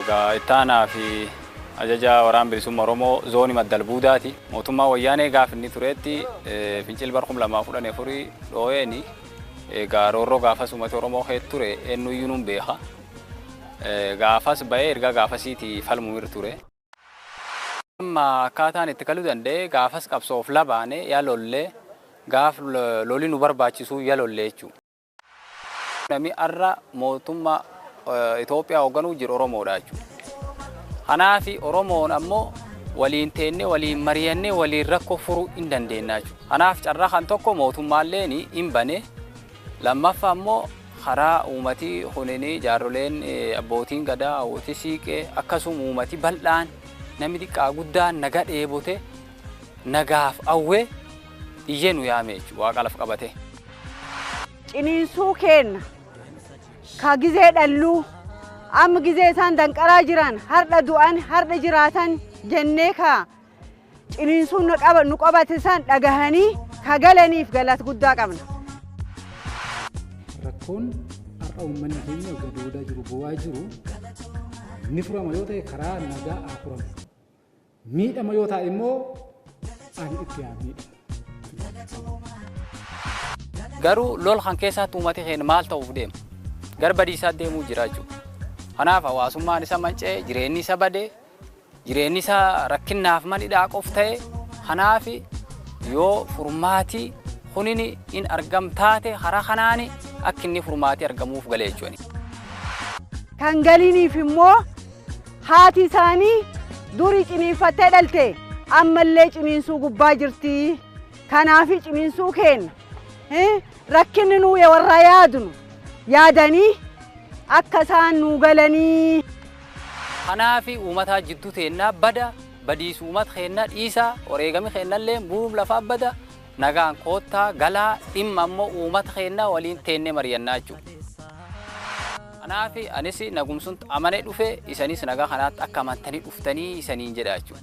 Itti aanaa fi ajajaa Waraana Bilisummaa Oromoo Zoonii Madda Albuudaati. Mootummaan Wayyaanee gaafa inni tureetti fincilli bara 2014 dhooyeen egaa roorroo gaafas uummata Oromoo keessa ture eenyuyyuu nuun beeka. Gaafas ba'ee erga gaafasiiti falmuu irra ture. Amma akkaataan itti kaluu danda'e gaafas qabsoof labaane yaa lollee gaaf loli nu barbaachisuu yaa lollee jechuudha. Nami arra mootumma Itoophiyaa hoogganuu jiru Oromoodha jechuudha. Kanaaf Oromoon ammoo waliin teennee waliin mari'annee waliin rakkoo furuu hin dandeenya jechuudha. Kanaaf carraa kan tokko mootummaalleen hin bane. Lammaffaa ammoo karaa uumatii kunin jaarroleen abbootiin gadaa hawwoti siiqee akkasuma uumati bal'aan namni xiqqaa guddaan naga dheebote nagaaf awwee iyyee nu yaame jechuudha waaqa laf qabatee. ciniinsuu keenna ka gizee dhalluu amma gizee isaan danqaraa jiran hardha du'an hardha jiraatan jennee ka ciniinsuun nu qaba- nu qabate san dhagahanii ka galaniif galata guddaa qabna. rakkoon har'a uummanni keenya gadoodaa jiru boo'aa jiru ni furama yoo ta'e karaa nagaa haa furamu Miidhama yoo taa'e immoo ani itti haa miidhamu. Garuu lol kan keessaatti uummati keenya maal ta'uuf deema? Gara badiisaa deemuu jira jechuudha. Kanaaf hawaasummaan isa manca'e, jireenyi isa bade, jireenyi isa rakkinnaaf mani daaqof ta'e. Kanaaf yoo furmaati kunin in argam taate karaa kanaan akka inni furmaati argamuuf galee jechuudha. Kan galiiniif immoo Haati isaanii durii ciniinfattee dhalte ammallee ciniinsuu gubbaa jirti. Kanaafi ciniinsuu keenna eh, rakkinni nuu ya warraa yaadnu yaadanii akka isaan nuu galanii. Kanaafi uumataa jidduu teennaa bada badiisu uumat keennaa dhiisaa oreegami keennallee buruum lafaa bada Nagaan koottaa, galaa, dhimma ammo uumata keennaa waliin teennee mariyannaa jechuudha. Kanaafi anis nagumsunt amanee dhufe, isaniis nagaa kanaatti akka amantanii dhuftanii isaniin jedha jechuudha.